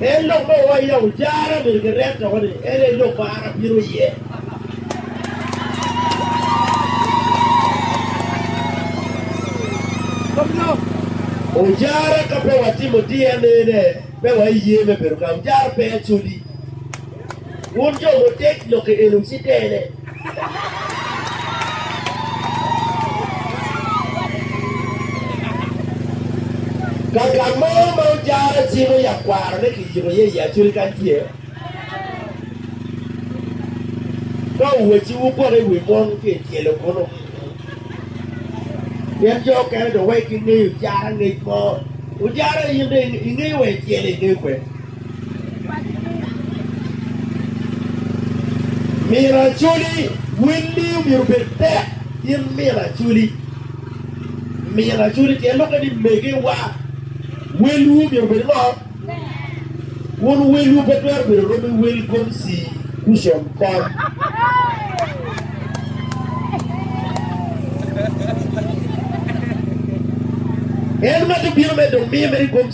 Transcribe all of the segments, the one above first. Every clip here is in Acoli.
En lok ma owaco ya ojara myero kiret doko ni en aye lok ma an abino iye. Ojara ka pe watimo DNA-ne, pe waiye me bedo ka ojara pe acodi. Wun jo mutek lokke eni wucitene. Ka gang mo ma ojara cimo yat kwarone kiyiko iye i Acoli kany tye, ka wuwacci wugwokke i wi mon ki i tyelo kunnu. Pien jo okene dong weko ingeyo ojara angec mo. Ojara in dong ingeyo wa i tyelo ingeyo kwede. Miro acoli, Welli omyero obed tek gin miro acoli. Miro acoli tyen lok eni megewa. Welwu omyero obed ngo? Wun welwu pe twero bedo romi wel gomsi kucom kom. En ma tye bino medo miyo mere gomsi.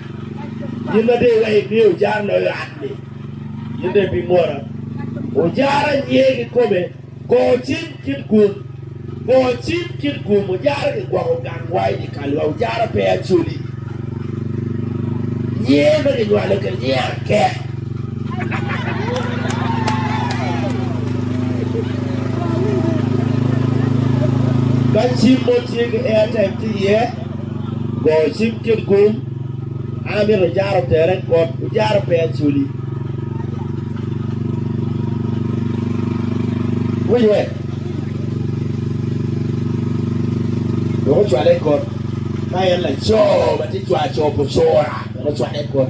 Gin ma dong iweko imiyo ojar loyo ot-ni, gin dong ibimwora. Ojar anyer kikome, go cim kit gum, go cim kit gum. Ojar gigwoko gangwa i dye kalwa, ojar pe acoli. Nyer ma ginywalo kene, nyer akek. Ka cim mo tye ki airtime tye iye, Go cim kit gum, An amito ojaro tere kod ojaro pe acoli. Winywe wek ocwale i kot ka en laco ma tye cwaco pu cura wek ocwale i kot.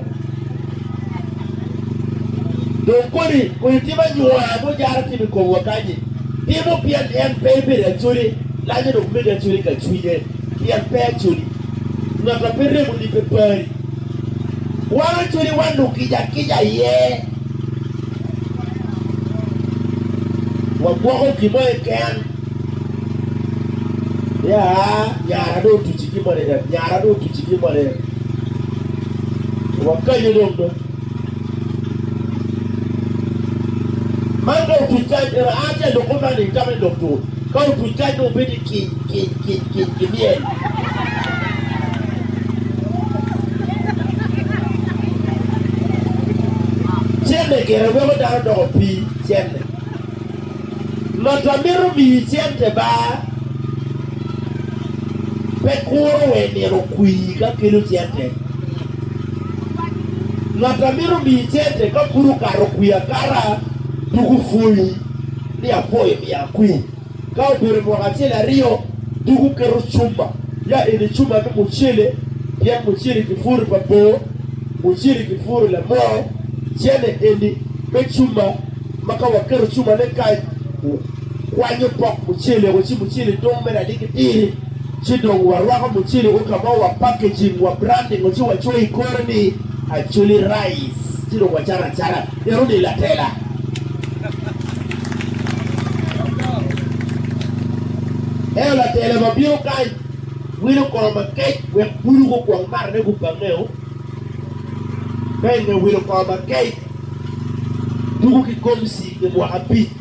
Dong kodi kodi tim anywola ma ojaro timo i komwa kany-nyi timo pien en pe ibedo acoli, lanyo dong mege acoli ka cwinye. Pien pe acodi ngat a pe remo lipe pari. Wan acodi wanu kica akica iye, wagwoko gin mo keken. Ya, nyara dong otuci gin mo keken, nyara dong otuci gin mo keken. Wakanyo dong do. Man dong otuc kany, ento an ce adoko man-ni, itamma ni dok tur. Ka otuc kany dong obedo ni kiny kiny kiny kiny ki myel. Cente gire weko dano doko pii cente. Lotta mito miyi cente ba pe kuro we nino okwii ka kelo cente. Lotta mito miyi cente ka pud okato okwii akata tuku pwonyi. ni apo imiyo akwir. Ka obedo mwaka acel aryo, dok wuketo cuma, ya eni cuma me mucele, pien mucele ki puro pa bor, mucele ki puro lamoo, cene eni me cuma, ma ka waketo cumane kany, wukwanyo pok mucele-gu, ci mucele dong mere aye ki tiri, ci dong warwako mucele-gu ka ma wapackaging, wabranding-o, ci wacoyo i kore ni, Acholi Rice, ci dong wacato acata. Bedo ni latela eo latela ma bino kany wilo kor makec wek bulu gukwong marane gubangeo, me nge wilo kor makec tuku ki gomsi pi mwaka abic.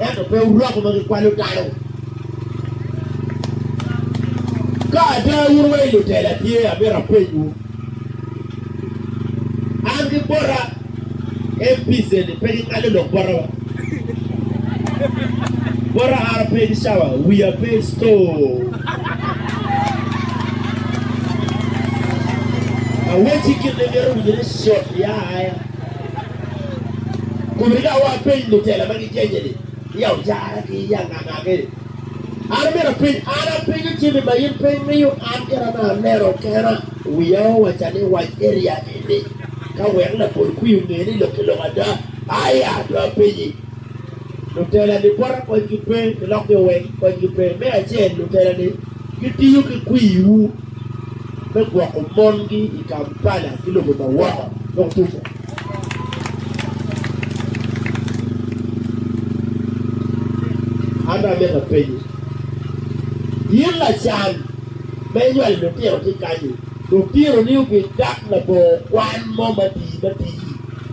Ento pe wuroko ma gikwalo dano. Ka ada wun wa i lutela tye, amyero apenywu, an ki bota MPs eni pe gingalo lok bota wa? Bota ara pe ki cawa, wiya pe i store. Awecci gin ma imito winyo ni shot ya aya. Kun rik awa apeny lutela ma gijenye ni, Iya ocara ki iya nga ngage? An omyero apeny, an apenyo jami ma in pe imiyo an kit ame aneno kena. Wiya owaca ni wac ki Iya ini, ka wek labol kwi onge ni lok ki lok ada. Aya, dong apenyi, lutela-ni bote konygi pe, ki lok-ki oweng konygi pe? Me acel, lutela-ni gitiyo ki kwiwu. me gwoko mongi i Kampala ki lobo ma woko. Dok tuco. An dong amito apenyi, in lacan ma inywalo litino tye kany-ni, lutinoni obidak labongo kwan mo matii matii?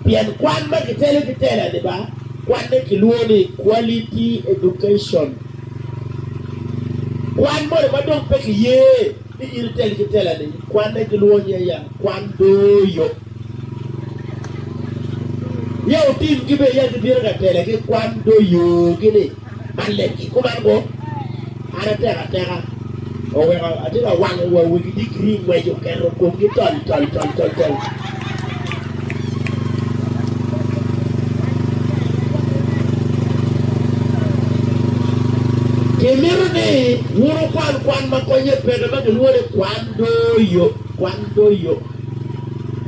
Pien kwan ma kitelo ki tela-ni ba, kwanne kilwongo ni quality education. Kwan moni ma dong pe kiye ni in iteli ki tela-ni, kwanne ki lwonye aye, kwan doyo. Ya wutim ki bene ya gibino ka tela ki kwan doyogi ni, Man lemgi, kuman go, an atek ateka. Oweko atye ka wango wa wegi digiri ngwec oketo komgi tol tol tol tol tol. Kimito ni wun wukwan kwan ma konye peke ma gilwonge kwan doyo, kwan doyo,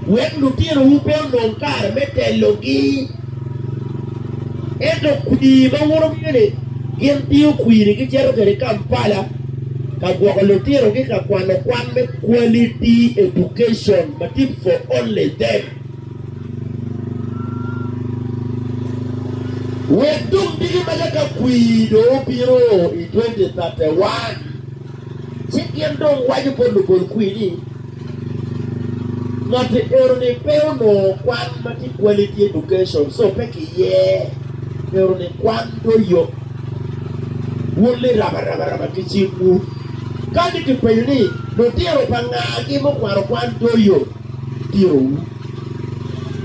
wek lutinowu pe onong kare me telogi. Ento kwir ma woto wiye ni gin tingo kwiri gicito kwede i Kampala ka gwoko lutino ki ka kwano kwan me Quality Education ma tip for only them. Wek dong diki maca ka kwir dong obino i 2031. Ci gin dong waco bot lupol kwir ni, Ngat-ti eno-ni pe onongo kwan ma tye quality education, so pe kiyee. Eno-ni kwan dong yot. Wun liraba raba raba ki cik-wu. Ka ni kipenyo ni, Lutino pa nga-gi mukwano kwan dong yot? Tiro-wu.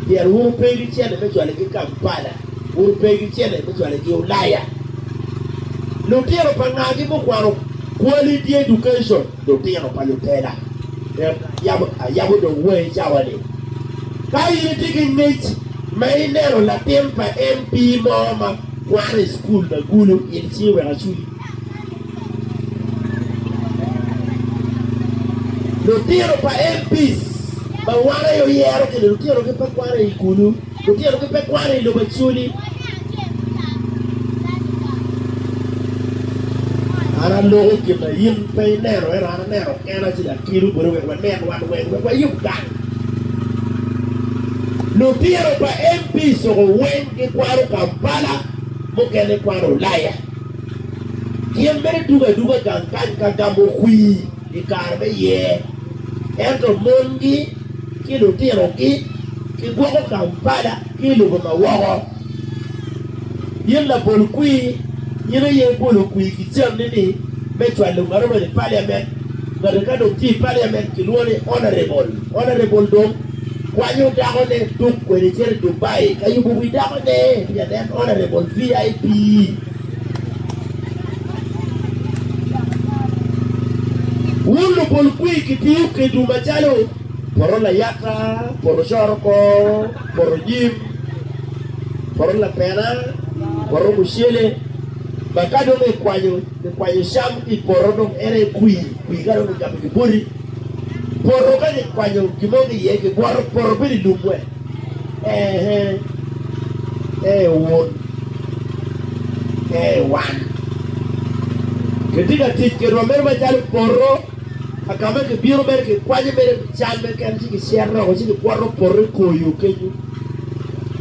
Pyer wuru pegi cene me cwalo-gi Kampala. Kun pe gicele me cwalo i gi Ulaya. Lutino pa ngagi mukwano kwali di education lutino pa lutela yabo ayabo dong wai cawa ni ka in itye ki ngec ma ineno latin pa MP mo ma kwano i school ma gulu in ci wek aculi lutino pa MPs ma wan aye oyero ki ni lutino gi pe kwano i gulu. Lutino ki pe kwano i lobo acoli. An aloko gin ma in pe ineno, ento an aneno kena ci akelo boti wek wanen wan weng, wek wayub dang. Lutino pa MP Soko weng gikwano Kampala, mukene gikwano Ulaya. Gin mene dugo aduga gang kany ka gamo kwir. i kare me yer, ento mongi ki lutinogi kigwoko Kampala ki i lobo ma woko. Gin labol kwir gin aye bolo kwir kicennini me cwalo ngat obedo i Paliamen. Ngati ka dong tye i Paliamen kilwongo ni Honourable. Honourable dong kwanyo dakone tuk kwede cito i Dubai ka yubo wi dakone pien en Honourable VIP. Wun lubol kwir kitiyo kedwu macalo poto layata, poto coroko, poto nyim, poto lapena, poto mucele, ma ka dong ikwanyo ikwanyo cam ki i poto dong en aye kwir, kwir ka dong kigabo kiboti. Poto ka kikwanyo gin mo ki iye kigwoko poto bedo i lum wek Ee, ee Wod, ee wan kitye ka tic kitwa mere macalo poto ka ka ma kibino mere kikwanyo mere cam keken ci kicito dok ci kikwoto poto i kor yo kenyo,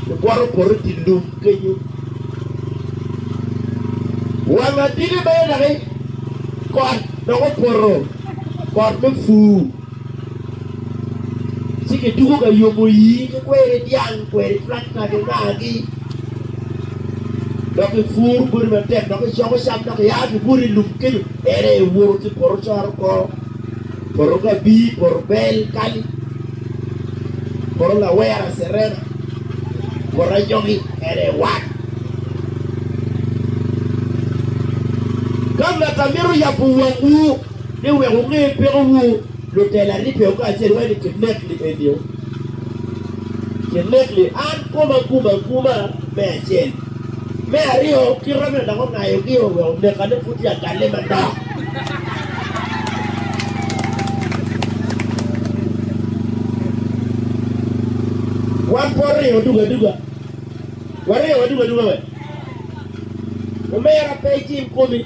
kikwoto poto i dye lum kenyo. Wang aditi mere doki kot dok opoto, kot me pur. Ci kituko ka yomo yii ki kweri dyang, kweri trakta kingaagi dok kipuro bodi matek dok kicoko cam dok kiya kibuto i lum kenyo en aye iwoto ki i poto coro kor, poto kabir, poto bel, kali, poto lawera, cerena, poto anyogi en aye iwar. Ka ngata mito yabo wangwu. ni wek wunge pekowu lutela ni peyo kacel wai ni kinekni enio kinekni an koma gum aguma me acel me aryo kita meno dok ongayo gi o wek oneka ni pud tye akalle manok wan pud ringo duga duga waringo wa duga duga wek omera pe icing komi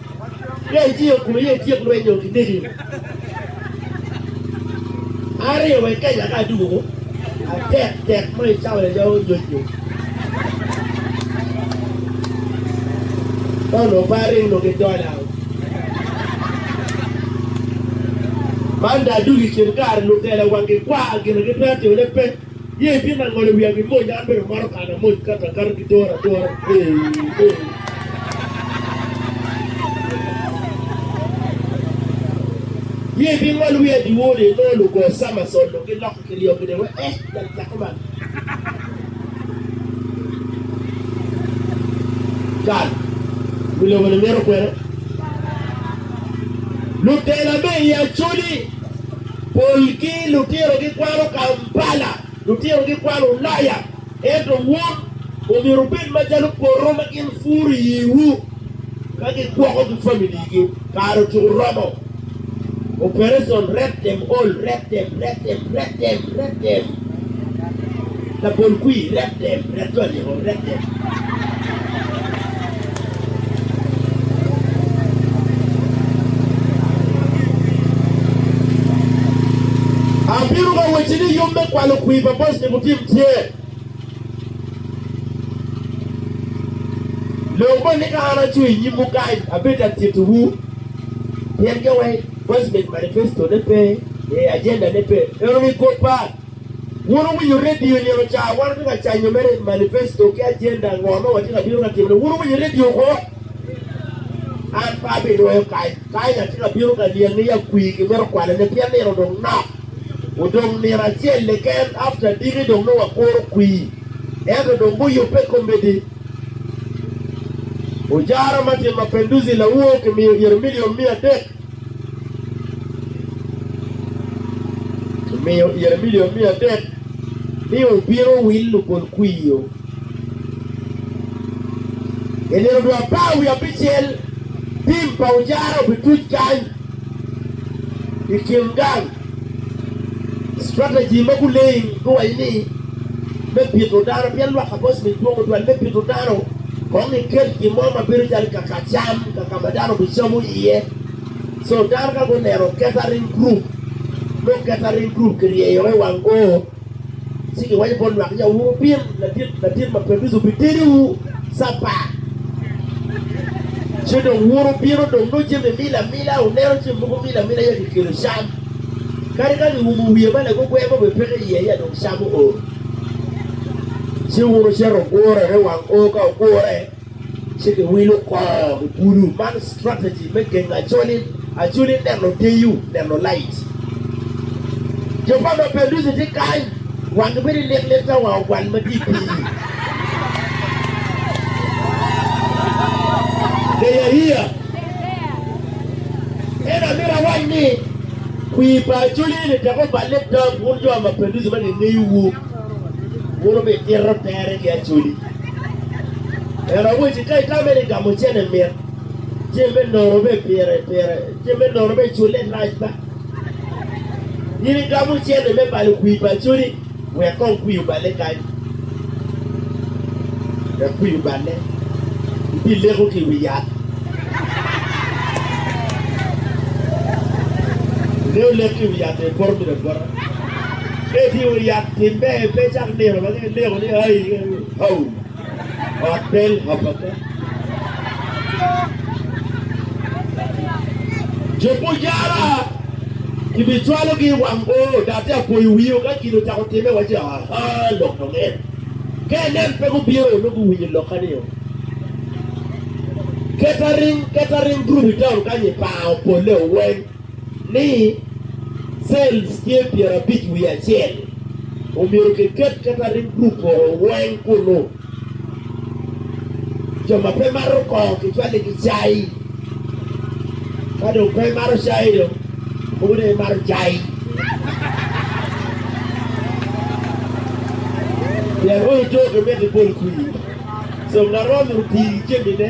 Peya itiyo i kome, ye ityek lweny nyo itegi yo aryo wek kenya ka adugo atek tek ma icawa ya jawo nyoj nyo. Don oparing no ki dola. Man da adugo i kin kare lutela wangi kwa gina gipe atimone pe. Ye itimo ango ni wia mi mony? An bene amato kano mony kato akata ki tora atora. Ye ibingolo wia diwor ni inongo lugo samasol dong giloko ki ryo gine wa eh dok cako man. Cal, wi lobo-ni mito kwena. Lutela me i Acholi. Pol ki lutino gikwano Kampala, lutino gikwano Ulaya, ento wun omyero wubed macalo poto ma gin puro i yiwu ka gigwoko ki familigi. Kare ocung oromo. Operation Red Them All, Red Them, Red Them, Red Them, Red Them. Labol kwir, red dem, red jo aliko, red dem. Abino ka wacci ni yub me kwalo kwir pa Bosnia Mutim tye. Lok moni ka an acung i nyimwu kany, abedo ka tittiwu pien kawek. President manifesto ne pe ee agenda ne pe eno ni kor par wun wuwinyo radio nino ca wan wati ka canyo mere manifesto ki agenda ngo ma wati ka bino ka timo ne wun wuwinyo radio kwo an pe abi nwoyo kany kany ati ka bino ka niange ya kwii ki mito kwale ne pien nino dong nok odong nino acel keken after diki dong nongo wakuro kwii ento dong guyubbe komedi. Ujara ma Tim Mapenduzi lawo kimiyo yero miliom miya adek kimiyo yero miliom miya adek ni obino wil lupol kwiyo i nino dwe apar wiye abicel. Tim pa Ujara obituc kany i kin gang. Strategy ma guleng guwaco ni me pito dano pien lwak kabos ni dwong tutwal me pito dano kong ikel gin mo ma bedo calo kaka cam kaka ma dano bicamo iye so dano ka guneno catering group nongo catering group kiryeyogi i wang oo Ci giwaco bot lwak, Ya wuru pin ladit ladit ma pe biso bitediwu Capat, ci dong wuru bino dong nongo jami mil amila. Wuneno ce mogo mil amila ya gikelo cam, kadi ka giumo wiye ma lagogwer mo bene peke iye, ya dong cam ool. Ci wun wucito wugurre wang o ka wugurre. Ci giwilo kor ulu. Man strategy me gengo acholi. Acholi neno deyo, neno light. Jo pa Mapenduzi tye kany, wangi bedo lik lik ka wang ogwal ma tye i pii. Deyahiya, En amito awac ni, kwir pa acholi eni tek oballe dam wun jo Mapenduzi ma gingeyo wu. Muno bi tito tere ki acodi. En awaci ka itame ni gamo cene mit, cem me nono be pire pire, cem me nono be cule rac ba. In igamo cene me balo kwi pa acodi, wek kong kwi obale kany. Wek kwi obale, ibi leko ki wi yat. Ingeyo lek ki wi yat-ti poto mine bota. Etyeko yat timbe pe cak nino ma gin neko ni ai hau ot bel hapaka. Jo mujara kibicwalogi i wang bor dok te apoyo wio ka gin ocako timme waci aha lok dong en ka enen pe gubino onongo guwinyo lokka nio. Catering catering group i taun kanyi pango polle oweng. ni cells tye pyerabic wiye acel omyero kiket catering group oo weng kunu. Jo ma pe maro koo kicwali ki cai ka dong pe imaro cai dong mogo dong imaro cai pien ongo too kimiti bol kwir so ngat romo tii jami ne.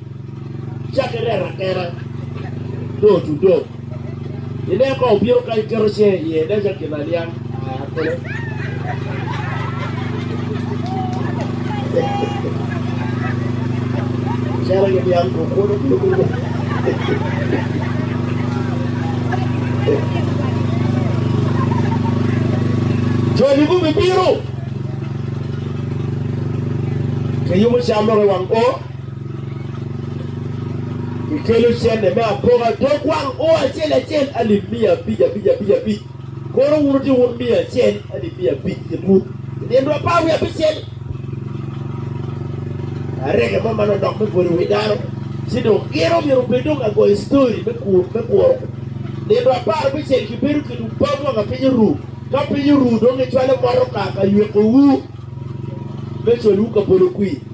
Cake rero atera door to door. Ine ka obino kany keto cinge iye nen calo gin aniang akole. Calo giniang ko kwodo kilo kilo. Joni gubibino. Kiyubo cam loko i wang o. Ikelo cente me apoka dog wang o acel acel alip miya abic abic abic abic. Koro wun wuti wun miya acel alip miya abic kit wun. Inino apar wiye abicel. Arega mo man odok me bolo wi dano. Ci dong gin omyero obed dong ka goyo story me kur me kuro. Nino apar bicel kibedo kit ubam wanga piny oru. Ka piny oru dong icwalo motoka ka yweko wu me col wu ka bolo kwir.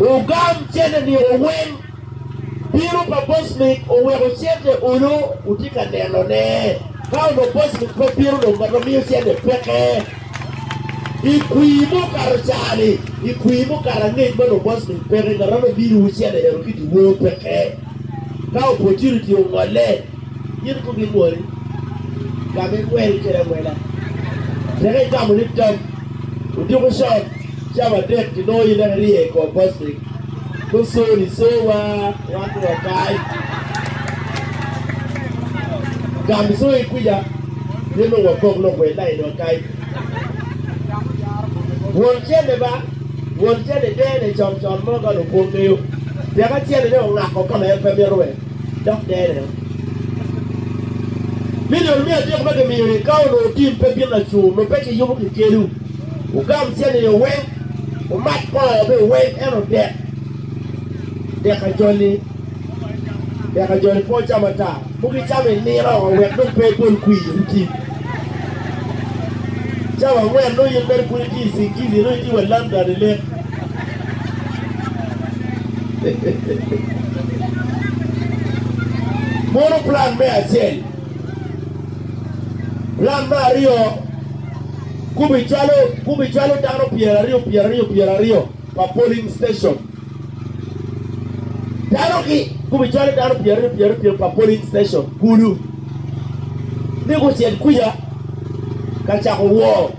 Ogam cente ni owil. Bino pa Bosnic oweko cente olo otye ka neno ne. Ka onongo Bosnic pe bino dong ngat ma miyo cente peke. I kwir me okato cani, i kwir me okato angec ma onongo Bosnic peke, ngat ma nongo miyo wu cente eno ki diwor peke. Ka opportunity ongolle, Gin gubimol ka me gwel kede awela, tek igamo ni tam oduku con cawa adek kilongo in dok irye i kor postic me soni so wa wan dong wakai. Gam so i kwica pien dong wagok lok wel lain wakai. Won cene ba, won cene dene con con mo ka lupong ngeyo tek acel ne ongako kama en pe mito we. dok dero. Milion me adek ma gimiyo-ni ka onongo tim pe bino laco, nongo pe kiyubo kikedo. Wugam cianino weng, wumat koo bene weng, ento dek, dek ajol-li, dek ajol-li pe wucam ata, mogo icam i nino wek dong pe ibol kwir oti. Cawa angwen nongo in mere pud itye i Singizi, nongo itye wa lam gani lek. Mono plan me acel. Plan me aryo kubicwalo kubicwalo dano pyeraryo pyeraryo pyeraryo pa polling station. Dano ki kubicwalo dano pyeraryo pyeraryo pyeraryo pa polling station kulu. Ni kucel kuca ka cako woo.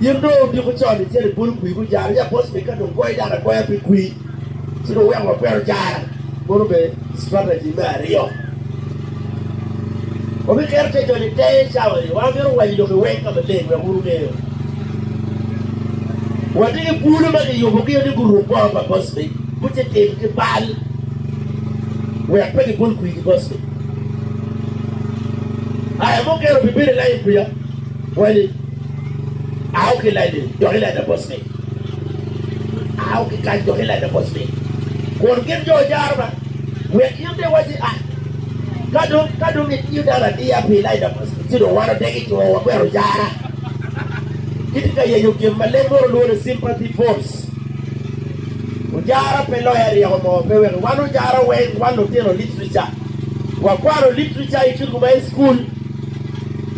In dong otyeko con icito ibolo kwir me jaro, ya bot me ka dong goyo dano agoya pi kwir ci dong wek wakwero ojara. Mono be strategy me aryo. Wabiketo te joni i tenge cawa ni wan mito wanyo lok i weng ka maleng wek wun wungeyo. Watye ki bulu ma kiyubo gi ni guruk bongo pa bot me guti tim ki bal wek pe gibol kwir ki bot me. Aya mukene obibedo i lain kwica. Kweli, Ao ki layo dok ileta bot ni. Ao ki kany dok ileta bot ni. Kun gin jo jaro ba, wek in bene iwac ni, Ah, ka dong, ka dong itiyo dano adiya pi Elaija bot ni, ci dong wan odeg i two wa kwero jara. Kitye ka yenyo gin ma leb munu lwongo ni sympathy votes. Ojara pe loya ryeko mo, pe weko. Wan ojara weng, wan lutino literature. Wakwano literature i cutgu ma i cukul.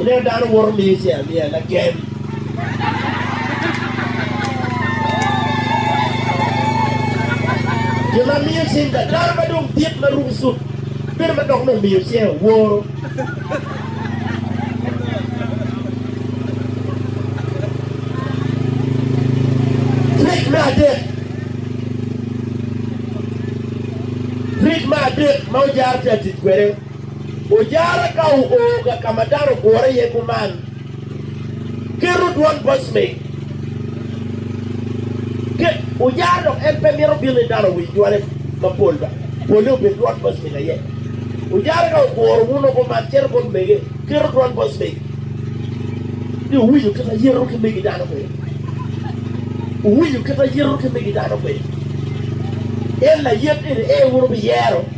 Ineno dano woto miyo ce amiya lagem. Jo ma miyo cing ka dano ma dong dit ma ruko cut bedo ma dok nongo miyo ce oworo. Trik me adek Trik me adek ma ojaro tye atic kwede Ojara ka oo ga ka ma dano ogure iye kuman, keto dwan bos me ke ojara dok en pe mito bino ni dano owiny dwane mapol ba, polle obed dwan bos me aye. Ojara ka oguro wuno kuman cito bot mege, keto dwan bos me ni owinyo kit a yeto ki megi dano kwede, owinyo kit a yeto ki megi dano kwede. En layet eni ee wun wubiyero.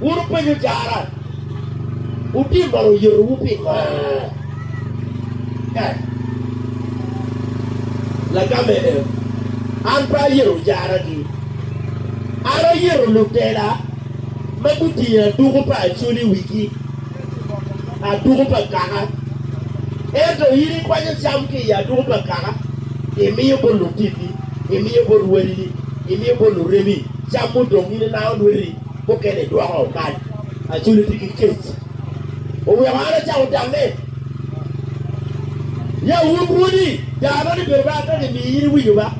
Wun wupenyo cara, Wutim bene oyetowu pingo? Eh, lagamme en, an pe ayeto caragi. An ayeto lutela ma gutingo aduku pa acoli i wigi, aduku pa kaka. Ento in ikwanyo cam ki i aduku pa kaka, imiyo bot lutitti, imiyo bot wadini, imiyo bot lurebi. Cam mudong in inango lweti mukene idwoko kany. Acol itye ki kec. Oweko an acako tange. Ya wun rwodi daa nongo ni bedo ba ka gimiyo in iwinyo ba.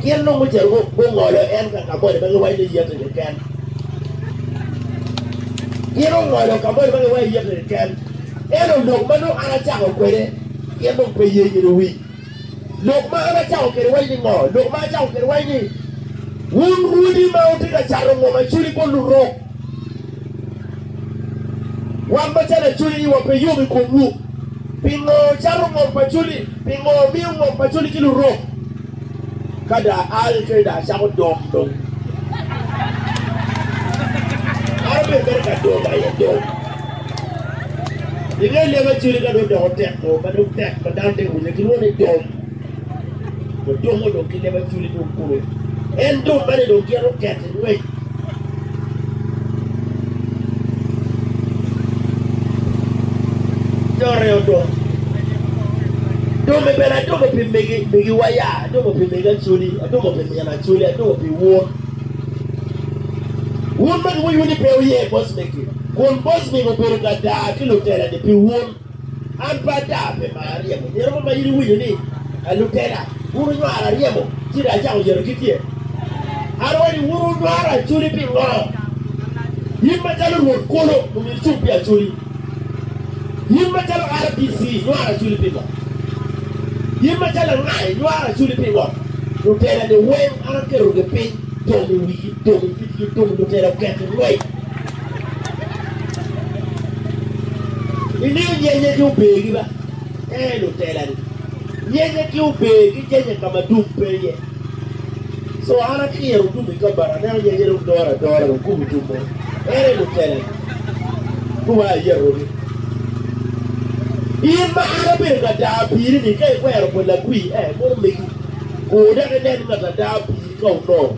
Gin nongo ocito gungolo en ka kamoni ma giwaco ni yete keken. Gin ongolo kamoni ma giwaco ni yete keken. Ento lok ma nongo an acako kwede gin nongo pe ye gin owiny. Lok ma an acato kwede wacci ni ngo? Lok ma acato kwede wacci ni, Wun rwodi ma wutye ka cato ngom aculi bot lurok, wan macalo aculi iwa pe yom i komwu. Pingo wucato ngom pa aculi? Pingo wumiyo ngom pa aculi ki lurok? Ka dong aal kene dong acako dom dong. An abedo mere ka dom aye dong. I nge leb acel ka dong odoko tek mo ma dong tek ma dano te winye gilwongo ni dom. Dong dom mo dong ki leb acel dong kulu. En dom mene dong gin oket i ngwec. Dore odom. Domme bene adomo pi migi, migi waya, adomo pi migi acoli, adomo pi min acoli, adomo pi wun. Wun ma giwinyo ni pe wuye bocmegi. Kun Bosbek obedo ka daa ki lutela-ni pi wun. An pe adaa, pe ma aryemo. Myero mo ma in iwinyo ni, A lutela, wun wunywaro aryemo, ci dong acako yeto kit ye. An awaco ni, Wun wunywaro acoli pingo? In macalo Rwot kulu, omyero icung pi acoli. In macalo RDC, inywaro acoli pingo? In macalo anga, inywaro acoli pingo? Lutela-ni weng an aketogi piny, dong i wigi, dong i itgi, dong lutela oketi ngwec. Imiyo nyenye ki ober gi ba? Ee, lutela-ni. Nyenye ki ober ki jenye ka ma dum pe iye. Co an atiro dum i kabati, aneno nyenye dong doro adora, dong kubo dum mo. Ere lutela-ni? Kubo aye arogi. In ma an abedo ka daa piri-ni, ka ikwero pa lagwii, ee, munu megi. Kur dok inen ngat a daa piri ka onongo.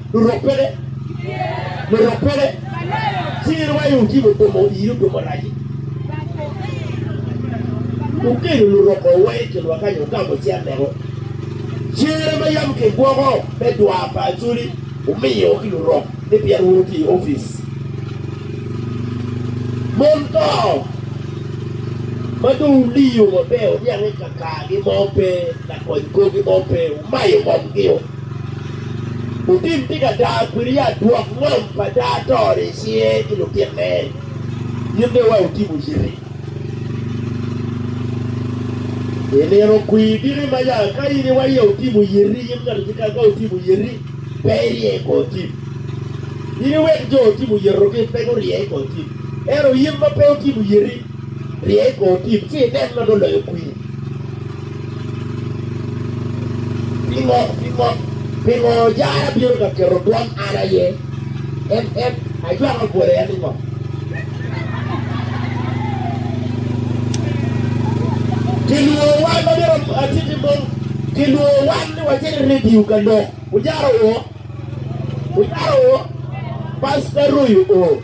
Lurok pede, lurok pede, ci in wayo utimo gomo iri gomo raci. Ukelo lurok o wa i kinwa kanyo utamo ci aneko. Cere ma yam kigwoko me dwa pa Acholi umiyo ki lurok ni pien wun wutye i opic. Mon to ma dong wuliyo maber wuniang ni kakagi mo pe, lakony korgi mo pe, wumayo ngomgi o. Putin tye ka daa kwede adwok ngom pa daa to-ni i cinge ki lutinne. In dong wek wutimo yiti. I nino kwir diki maca, ka in iwaye wutimo yiti, in ngati keken ka wutimo yiti, pe irye i kor tim. In iwek jo wutimo yitogi pe gurye i kor tim. Ento in ma pe wutimo yiti, Rye i kor tim, ci inen ma dong loyo kwir. Pingo, pingo, pingo jara bino ka keto twom an aye? En, en, ajwako bwole en i ngo? Kilwongo wan ma bino atiti mong, kilwongo wan ni wacit i redio ka lok. Wujaro o? Wujaro o? Pasta Royo o?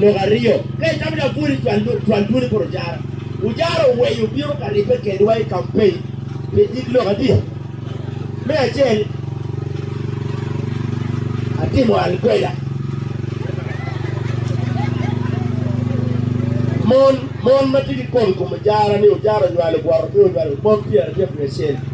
Lok aryo, Ka itamo ni abwol i twal dwoni poto jara, ojara oweyo bino ka ribbe kedwa i kampein pi nyig lok adi? Me acel, atimo alkweda. Mon ma tye ki kome i kom ojara ni ojara onywalo bwot-ro pe onywalo mon pyeraryo wiye acel.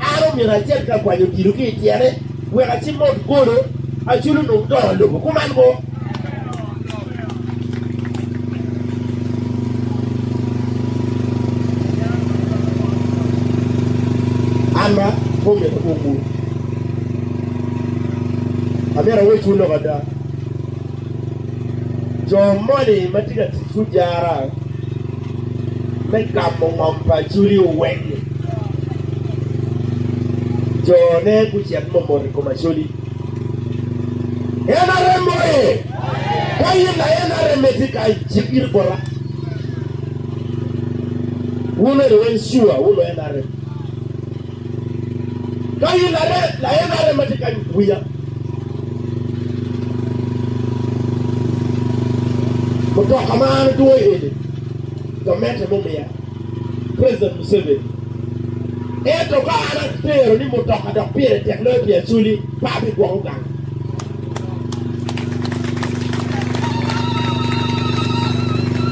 An omyero acit ka kwanyo odilo ki i tyene wek acim ma ot golo acul onong dongo lobo kuman mo. An ma omyero akumwu, amyero awecwu lok ada, jo moni ma tye ka tic gujarra. me gamo ngom pa Acholi oweng jone gucit momot i kom Acholi. NRM oye! Ka in la NRM itye kany, cik iri bota. Wun eri weng sure wulu NRM. Ka in are, la en are ma tye ka wiya. Mutoka ma an adwoyo iye-ni, gamente me omiya, President Museveni. Ento ka an atero ni mutoka dok pire tek loyo pi acoli, pe abigwoko gang.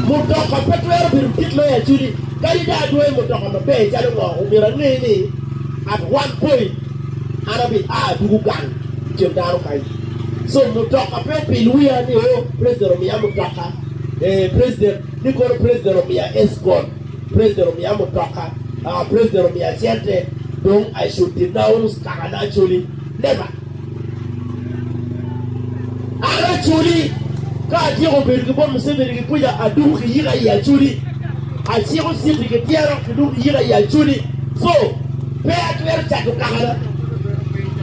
Mutoka pe twero bedo kit me aculi kadi dong adwoyo mutoka maber calo ngo. Omyero ange ni at one point an abi a tuku gang i kin dano kany. So mutoka pe opil wiya ni o president omiya mutoka, ee president ni kono president omiya escort, president omiya mutoka, aa president omiya cente dong I should denounce kakana aculi, never. Aye Acholi, ka atyeko bedo ki bot Museveni ki kwica, adoko ki yika i Acholi. Aciko citi ki tyero kidoko ki yika i Acholi. So, pe atwero cato kakana.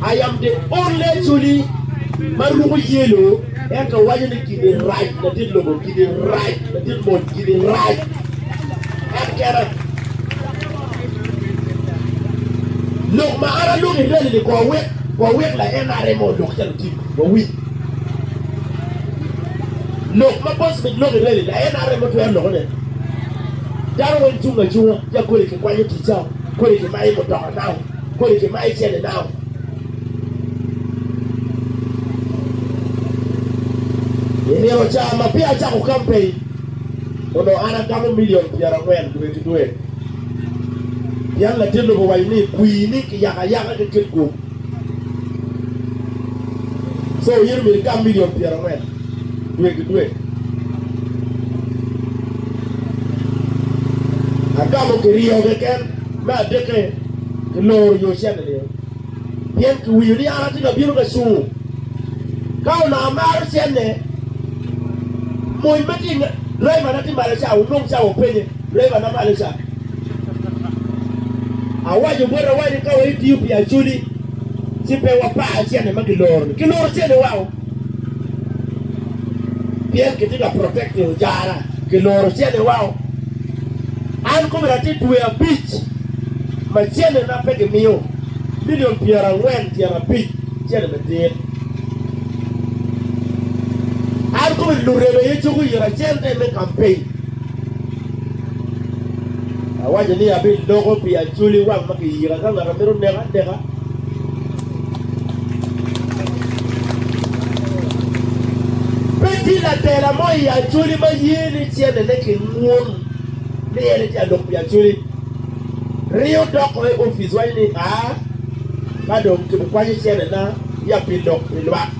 I am the only Acholi ma ruko yelo ento waco ni gini rac latit lobo, gini rac latit mony, gini rac. En kena. Lok ma an aloko i rali ni kor wek wawek la NRM odok calo tim wawiny. Lok ma Paul Smith loko i rali la NRM otwero loko ne. Dano weng cung acunga ja kodi ki kwanyo ticao, kodi ki mayo mutoka nao, kodi ki mayo cene nao. I nino ca ma peya acako campaign onongo an agamo million pyerangwen dwe ki dwe. Yam latit lobo owaco ni, Kwir ni kiyako ayaka ki kit gup cawa in omyero igam milion pyerangwen dwe ki dwe. Agamo kiryo keken, me adikke kiloro yo cente nio, pien kiwinyo ni an atye ka bino ka cungo. Ka onongo amaro cente, mony ma tye i driver na tye malo ca onong cawa openye. Driver ma malo ca, awaco botwa ni ka watiyo pi Acholi ci pe wapar cente ma kiloro-ni. Kiloro cente wako pien kitye ka protect lucara. Kiloro cente wako. An kome atye dwe abic ma centena pe gimiyo milion pyerangwen tyen abic cente me tit. An kome lureme aye cuko ira cente me campaign. Awaco ni abidoko pi acoli wang ma kiyika ka ngat a mito neka aneka. Pe tye latela mo i acoli ma ye ni cennene kingun ni en etye alok pi acoli. Ringo doko i opic waco ni, Aa, ka dong kibikwanyo cennena ya pi lok pi lwak.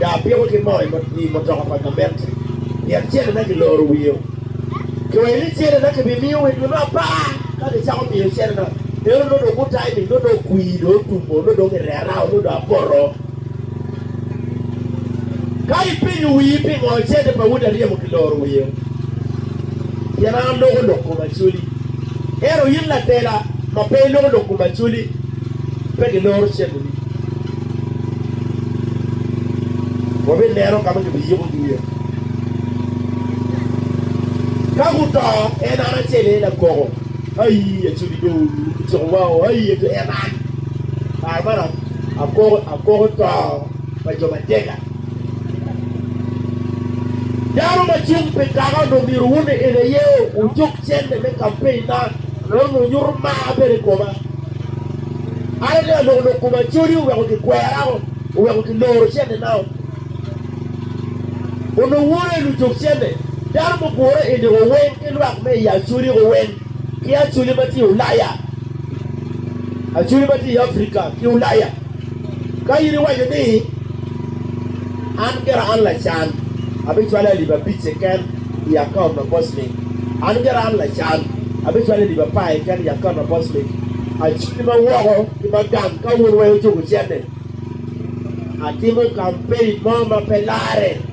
Daa apiko ki moo i mutoka pa gament pien cennena kiloro wiye. Kiweyo ni cennena kibimiyo wa i dwe me apar. Ka kicako miyo cennena, en onongo dong gutayo ni nongo dong kwir dong otum, onongo dong irera, onongo dong apoto. Ka ipenyo wii pingo cente pa udi aryemo kiloro wiye, pien an aloko lok kom acoli, ento in ladela ma pe iloko lok kom acoli, pe giloro cenneni. Wabineno ka ma kibiyiko iye. Ka guto, en an acel aye lakoko. Ai, acodi dong oluu ki ciko wao. Ai, ento en an, kare man akoko, akoko to pa jo matega. Dano ma cung pi kaka onongo myero wun en aye wucuk cente me kampein na, nongo onyuto mar bene i koma. An atye ka loko lok koma, codi oweko gikwera o, oweko giloro cente na o. Onongo wora i lucok cente, dano mugure i niko weng ki lwak me i Acoli ko weng, ki Acoli ma tye i Ulaya, Acoli ma tye i Africa ki Ulaya. Ka in iwaco ni, 'An gira an lacan, abicwale alip abic keken i akaont ma Bosnic, an gira an lacan, abicwale alip apar keken i akaont ma Bosnic, acwali ma woko ki ma gang ka wun weng ocuko cente. Atimo kampein mo ma pe larre.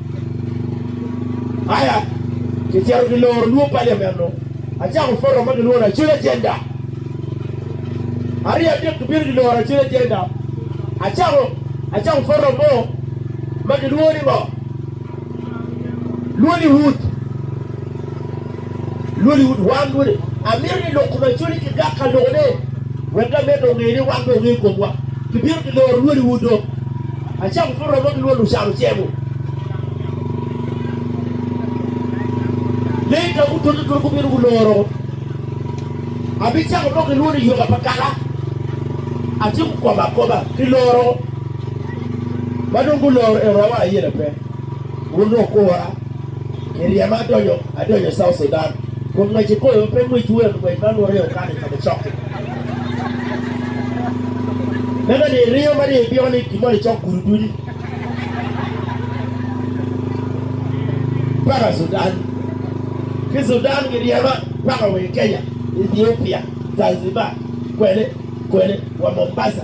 Aya, kicito ki loro lwok paliament mo, acako forum ma gilwongo ni Acel Agenda. Aryo adek gibino giloro Acel Agenda, acako acako forum mo ma gilwongo ni ngo? Lwongo ni Wood. Lwali ut wan dwoni. Amito ni lok kom Acholi ki gak ka loko ne wek da med onge ni wan be onge kom wa. Ki bino ki loro lwali ut dong. Acako ki romo ki lwal ucano cemo. Lee ka gu toto toto gu bino gu loro. Abi cako mo ki lwali yoga pa kala. Atyeko kobo akoba ki loro. Ma dong gu loro en rowa aye la pe. Wun dong okora. I ryema adonyo adonyo South Sudan kun ngwec i koyo pe ngwec wek ngwec man woto i okana i kome cok-ki. Meno ni iringo ma dong ipiko ni gimoni icok gudo dudi paka Sudan, ki Sudan giryema paka wa i Kenya, Ethiopia, Zanzibar, kwene kwene wa Mombasa.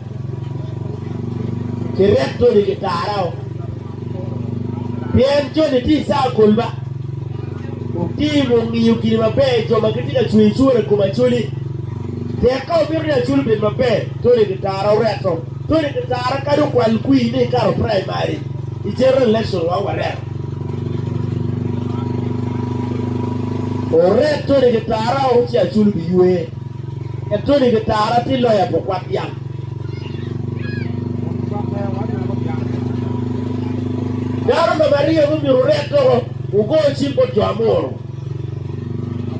Kiryek joni gitara o, pien joni tye i caa akolba. Wutim wungiyo gin maber jo ma gitye ka cweyo cwor i kom Acholi. Tek ka wumito ni Acholi obed maber, joni gitara oreto. Joni gitara kadi okwal kwir ni ikato praimari, i general election wang wareto. Oret joni gitara woko ci Acholi biywe. Etuni ki tara ti loya pu kwat dyang. Dano number aryo mumyuto wuret doko wugo cim bot jo amuru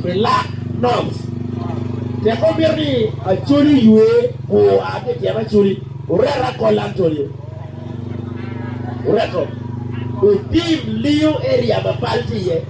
pi lak nobs. Tek wamito ni Acholi oywe bur oa ki i tyen Acholi, wuret Akolla Antonio. Wureto. Wutim lingo area ma pal tye iye.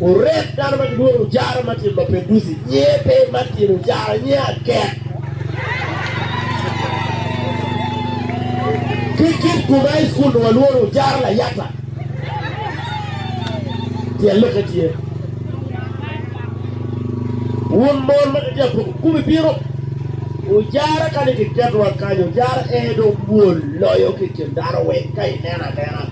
Orek dano ma gilwongo Ujara Martin Mapenduzi nyer pe Martin Ujara nyer akek. Ki kit gum a i cukul nongo alworo Ujara Layata. Tyel lokke tye. Wun mon ma kitye ka poko gum ibino Ujara ka ni kiketo wa kany Ujara ee dong mwol loyo ki i kin dano weng ka ineno anena.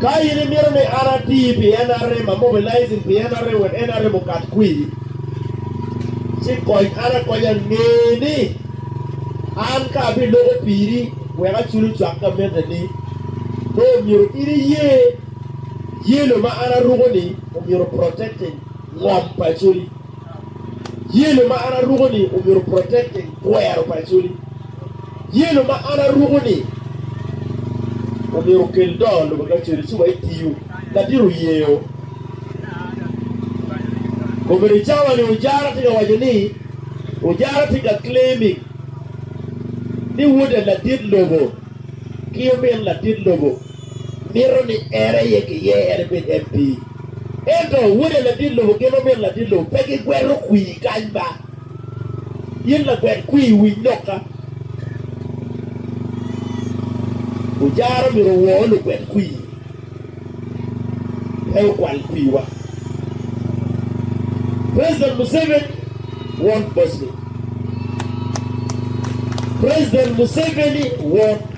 Ka in imito ni an ati pi NRM, amobilizing pi NRM wek NRM okat kwi, ci kony an akonya. Nge ni an ka abiloko piri wek aculo cwak gamente ni, nongo myero in iye yelo ma an aruko ni omyero protecting ngom paconi. Yelo ma an aruko-ni omyero oprotect-te i twero pa Acholi. Yelo ma an aruko-ni omyero okel doo lobo ki Acholi ci wa etiyu. Ladit oyeo. Kombeddi cawa-ni Ojara tye ka waco ni, Ojara tye ka claiming ni wode ladit lobo ki omin ladit lobo. mito ni en aye giye en ebed MP. Ento wode ladit lobo gin omito ladit lobo pe gigweto kwii kany ba. In lagwet kwii winy noka. Ojara omito owor lugwet kwii pe okwal kwii wa. President Museveni won Bosnia. President Museveni won.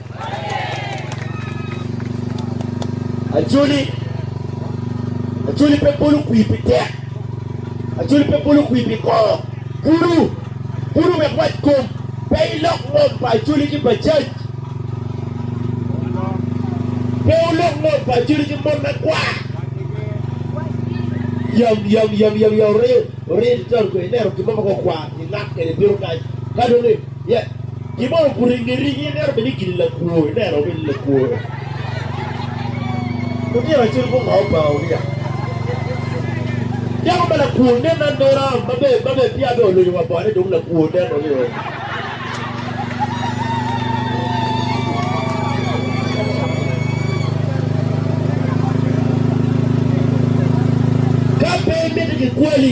Ajoli, ajoli pe bolo kwir pi tek, ajoli pe bolo kwir pi kongo. Kulu, kulu wek wac kom, pe ilok ngom pa ajoli ki bajac, pe ulok ngom pa ajoli ki mon ma kwar. Yam, yam, yam, yam, yam, oriyo, oriyo, titaro kwe, ineno gin mo ma kong kwar, ingak kede bino kany, ka dong Gibongo guringo i rigi, meno bene gin lakwo, ineno bene lakwo. Lutino acel gungo pa Uria. Dako ma lakwo nen anena, ma be ma be pia be olonyo wa bone dong lakwo nen ni o. Ka pe imito gikwali,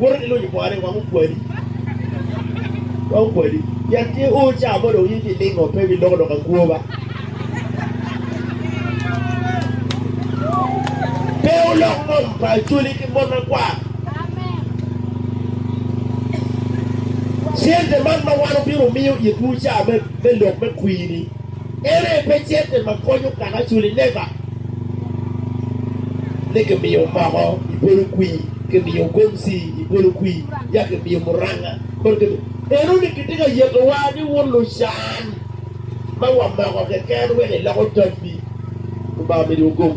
Woto ki lonyo pore wek okwali, wek okwali, pien tye o ca ma dong in bilingo, pe biloko doko agwoba. Pe wulok ngom pa Acoli ki mon makwar. Cente man ma wan obino miyo itwu ca me, me lok me kwir-ni, En aye pecette ma konyo kanaculi nega ni kimiyo moko i bolo kwir, kimiyo gomsi i bolo kwir, ya kimiyo muranga kong kimiyo. Eno ni kitye ka yetowa ni wun lucan ma wamoko keken wek iloko tabbi Lubanga omidiwa gom.